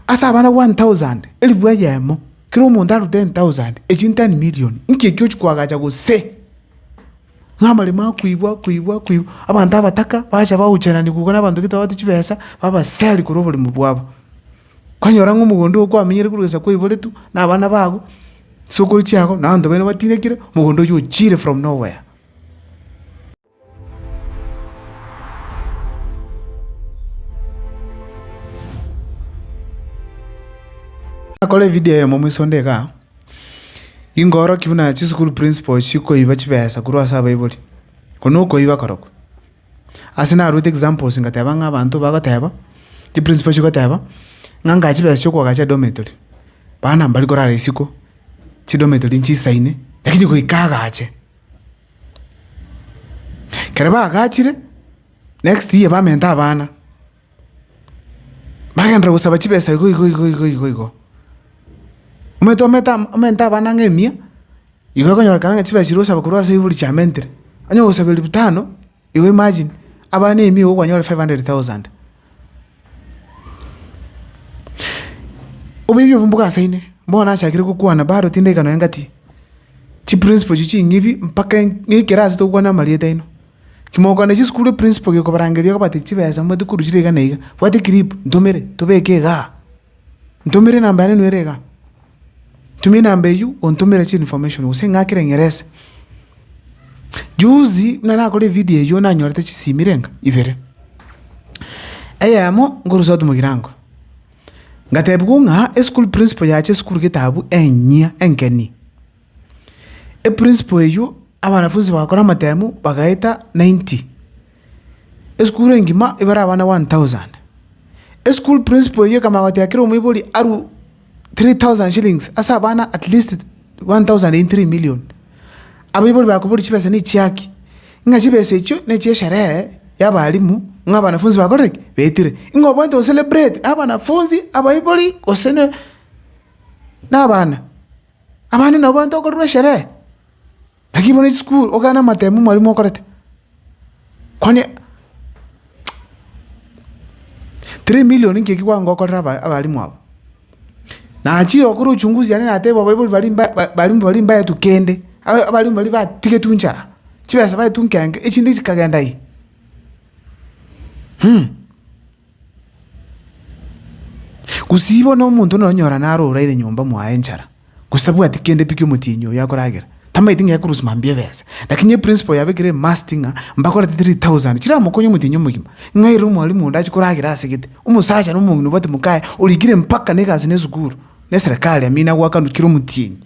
Ase abana one thousand, elifu eyemo, kera omonto aru ten thousand, echi nteni million. Nki ekio ochia koagacha gose? Ng'a amaremo akoigwa, koigwa, koigwa, abanto abataka bacha bagocherani gokwa na abanto getabagote chibesa, babaseri korwa oborimo bwabo. Kwanyora ng'a omogondo oo kwamenyire korwa esaku oiboretwe, na abana bago, chisokoro chiago, na abanto baino batinekire, mogondo oyio ochiire from nowhere. Nakore evideo eyemo moiso onde igaa, ingorokia buna chisukuru principal chikoiba chibesa korwa ase abaibori, oko nokoiba korokwo. Ase narwete examples ngateba ng'a abanto bagoteba, chiprincipo chigoteba, ng'a angaa chibesa chia okoagacha edometory, bana mbari korara isiko, chidometory nchisaine, lakini goika agache. Ekero bagachire, next year bamente abana, bagenderera gosaba chibesa igo igo igo igo igo igo. Omanyete omete ama omente abana ang'e mia, igo okonyorekana ng'a chibesa chiria osaba korwa ase ebiborero chiamentire, onye ogosaba elfu tano. You imagine, abana ime igo kwanyore 500,000. Oboibi obwo mbogasaine, bono nachakire gokwana bado tindaika nonye ngati chiprinciple echi ching'ibi mpaka en- ng'ikere ase tokwana amarieta aino. Kimokwana chisukuru eprinciple gekobarangeria kobatebi chibesa mobwate korusia iga na iga, bwata eclip ntomere tobeke igaa, ntomere enamba yane nwere igaa, tumia enamba eywo ontomere chi information gose ing'akere ing'erese. Juzi buna nakora evidio eyio nanyorete chisimi renga ibere, eyemo nkorwa south mogirango, ngatebigwa ng'a eschool principal yacha esukuru gete abwo enyia enkeni, eprinciple eywo abanafunzi bagakora amatemu bagaeta ninety. Esukuru engima ebare abana one thousand. Esukuru principal eyio ekamanya goteba kera omoibori arue three thousand shillings ase abana at least one thousand in three million. Abaibori bakobori chibesa ne chia ki? Ng'a chibesa echio ne chia esherehe ya abalimu ng'a abanafunzi bakorire ki? Betire. Ng'a obwate go celebrate na abanafunzi, abaibori gose ne na abana. Abande nabo obwate gokorerwa esherehe. Lakini bono isukuru ogane amatemo mwarimu okorete, kwani three million inki eki kwanga okorere aba- abarimu aba? Nachire gokora uchunguzi yane nateba abaibori baria mba ba- barimu baria mbaetwe kende, aba- abarimu baria batigetwe nchara, chibesa baetwe nkenge, echinde chikagenda yi. Gose ibo nomonto nonyora naro oraire nyomba mwaye enchara, gose tabwati kende pi ki'omotienyi oyo akoragera, tamaeti ng'a ekorusia mambia ebesa. Lakini eprinciple yabekire ime must ng'a mbakore ata three thousand chiramokonye omotienyi omogima, ng'a ere omwalimu onde ache koragera ase gete, omosacha na omong'ina obwate mokaye, orikire mpaka na egasi na esukuru, na eserekari amina goakanwa kera omotienyi.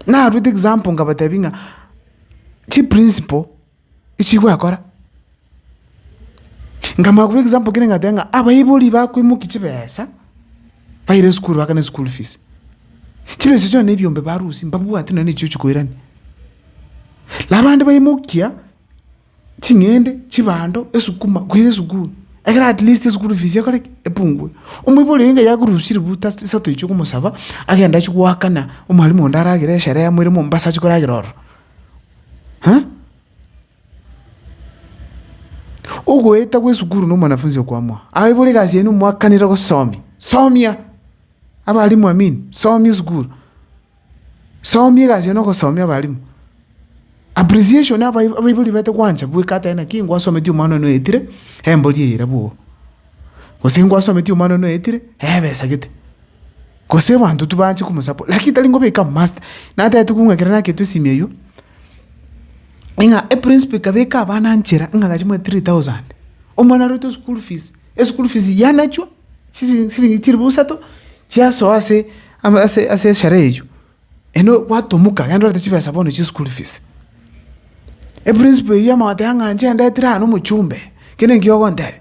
Naruete example ngabatebi ng'a chiprinciple. Echii gwakora? Nkamoa korwa example kere ngateba ng'a abaibori bakoimokia chibesa baire esukuru bagaakana eschool fees, chibesa echio nonya ebiombe barusia mbabwati nonya nechio chikoirania. Na abande baimokia ching'ende, chibando, esukuma koira esukuru ekero at least eschool fees ekore ki? Epungue. Omoibori oyo yakorusirie buta ase chisato echio okomosaba agende achie goakana omwalimu onde aragere esherehe moire Mombasa achie koragera ororo. Ha? Ogoeta gw'esukuru na omwanafunsi okwamwa. Abaibori egasi yaino mwakanire gosomia. Somia! Abalimu amin, somia esukuru. Somia egasi yaino ogosomia abalimu. Appreciation abai- abaibori baete gwancha bweka atae naki ngwasometie omwana one oetire, embori eye erabe oo. Gose ngwasometie omwana one oetire, ebesagete. Gose abanto tibaanche komosabora, lakini tari ngobeka master. Natete kobua ng'a ekero nagetwe esimi eyio, ng'a eprinsipal ekaba eka abana nchera ng'a agache mwa three thousand, omwana aruete eschool fees, eschool fees yanachwa chiri chiriingi chilifu isato chiasoa ase ama ase ase esherehe eyio, eno gwatomoka yaani ndorete chibesa bono chia eschool fees. Eprinsipal eyio yamanya goteba ng'a inche ndetire aa nomochumbe, kende nkio ogontebia.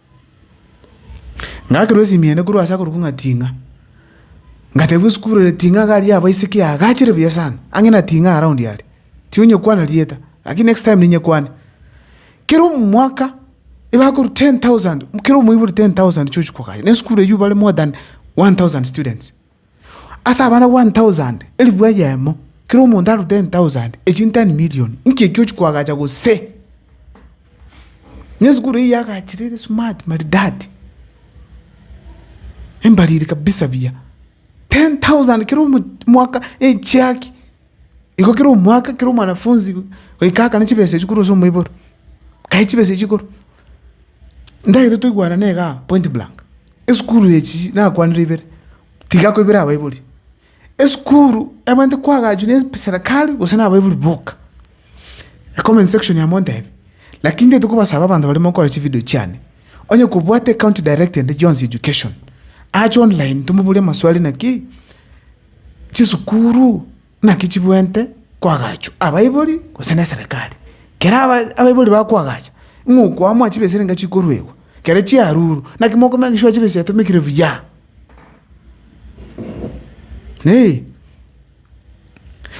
Ngakerwa esimi eye korwa ase akorokwo ng'a ting'a, ngatebiwa esukuru eye ting'a iga aria abaiseke yaagachire buya sana, ang'e na ting'a around aria, tinyekwana rieta lakini next time ninyekwane. Kera omwaka ebakorwa ten thousand kera omoibori ten thousand chiochia kogachwa, na esukuru eywo bare more than one thousand students. Ase abana one thousand, elifu eyemo, kera omonto aru ten thousand, echi ten million, inki ekio ochia koagacha gose? Onye esukuru eyio yaagachire ere smart maridadi, embariri kabisa buya, ten thousand kera omwaka echiaki. Igo kera omwaka, kera omwanafunzi goika akane chibesa echio korwa ase omoiboro, kae chibesa echio korwa. Ntagete toigwanane igaa point blank. Esukuru echi nakwanire ibere, tiga ko ibere abaibori. Esukuru ebwenerete koagachiwa ne eserikari gose na abaibori boka. Comment section amo ontebie, lakini ntagete kobasaba abanto baria mokora chividio chiane, onye kobwate ecounty director ende John's Education, ache online tomoborie amaswali naki. Chisukuru naki chibwente koagachwa abaibori gose neserekari. Kera abaibori bakoagacha, ng'a okoamoa chibesa niga chikoruegwa, kere chiarurwa, naki mokomanya egesura chibesa chiatomekire buya. Naende,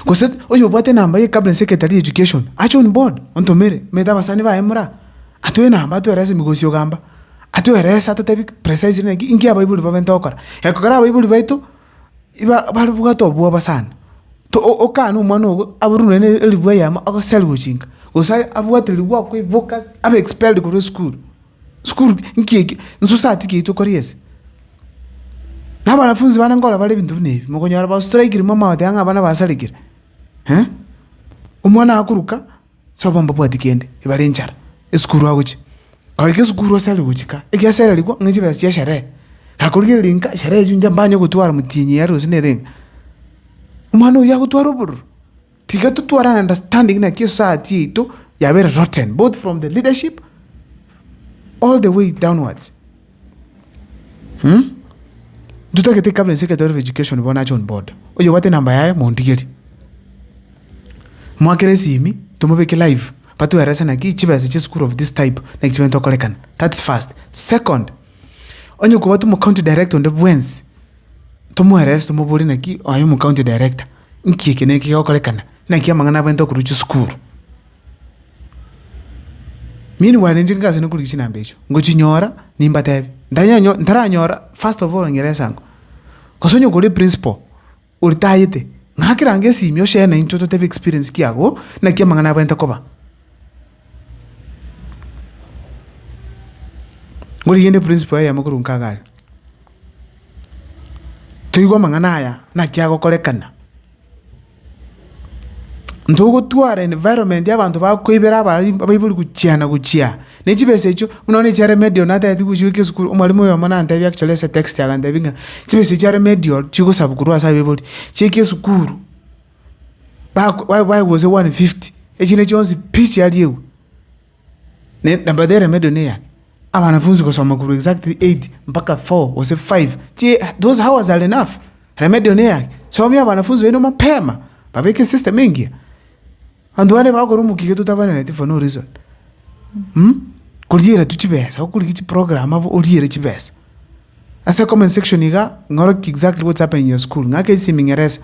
gose oyo obwate enamba ye cabinet secretary ye education ache on board ontomere, omanyete abasani baye mora, atoe enamba atoerese mogosi ogamba, atoerese atotebi precisely naki inki abaibori babenta gokora. Ekero abaibori baito. iba babwate obwoba sana, to- o- okane omwana ogo aburwe nonya ne eribwa eyemo agose ari gochinka, gose aye abwate ribwa okoiboka abe expelled korwa esukuru, sukuru nki ekio? Nsusa ati kei tokori ase. Na abanafunzi bande nkorora bare ebinto buna ebi, mokonyora bastrikire mwa amagote ang'e abana basarekire omwana akoruka. Soba mbabwati kende, ebare enchara, esukuru agochia. Agaika esukuru ase are gochika, ekiagera erarikwa ng'a chibesa chia sherehe. Gakorigereria ng'a sherehe eyio inche mbanye gotwara motienyi yare gose nere ng'a, omwana oyio agotwara obororo. Tiga totware an understanding naki esociety yaito yabeire rotten both from the leadership all the way downwards. Ntotagete cabinet secretary of education bono John Boda oyobwate enamba yaye montigerie mwakere esimi tomobeke live batoerese naki chibesa chia esukuru of this type naki chibegete gokorekana that's first, second onye kobwate omocounty director onde bwensi tomoerese tomobore naki oyo omocounty director nki eke na eke gegokorekana naki amang'ana abwate okorwa chisukuru. Mimi bwane inche ngase nokorigia chinamba echio, ngochinyora nimbatebie, ntanyanyo ntaranyora first of all nyire esango, gose onye kore principal oritayete, ng'ake range esimia oseene naintwe totebe experience ki agwo, naki amang'ana abaete koba. Ngorigende principal eyemo korwa nkaga aria, toigwe amang'ana aya naki agokorekana. ntogotwara environment y'abanto bakoibera abari abaibori gochia na gochia, na chibesa echio buna bono echa remedial natete gochia goika esukuru, omwarimu oyomo nantebia actually ase etext agantebia ng'a chibesa chia remedial chigosabwa korwa ase abaibori, chiika esukuru, bago baye baye gose one fifty, echinde chionsi pi chiariegwe. Namba there medo ne eyane, abanafunsi gosoma korwa exactly eight mpaka four gose five, those hours are enough, remedio ne eyane, somia abanafunsi baino mapema, babeke esystem engiya, abanto bande bagokora omokia totabaneneretie for no reason, mh, koriera tu chibesa, okorigia chiprogram abwo oriere chibesa. Ase comment section iga ing'oroki exactly what's happening in your school, ng'ake ase emeng'eresa.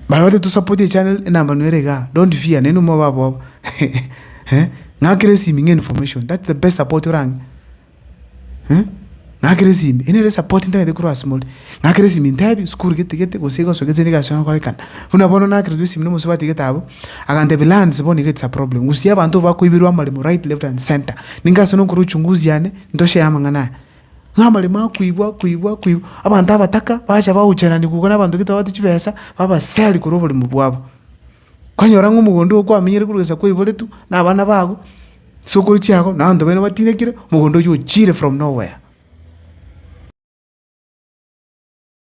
Barabwate tosapotie echannel enamba nere igaa, don't fear naende omwabo abwo eh, ng'akera esimi ng'a information that's the best support orang'e eh, ng'akera esimi eyio nere esapoti ntagete korwa ase more. Ng'akera esimi ntebi sukuru gete gete gose iga gose gose egasi egokorekana. Buna bono nakererwa esimi na omosubati gete abwo, agantebia lands bono iga it's a problem, gusia abanto bakoiberwa amaremo right, left and centre. Ninga ase nonkore uchunguzi yane. Ntoche amang'ana aya, ng'a amaremo akoigwa, akoigwa, akoigwa, abanto abataka bacha bagocherania gokwa na abanto getabati chibesa, babaseri korwa oborimo bwabo. Kwanyora ng'a omogondo oo kwamenyire korwa esaa kwaiboretwe, na abana bago, ase okori chiago, na abanto baino batinekire, mogondo oywo ochiire from nowhere.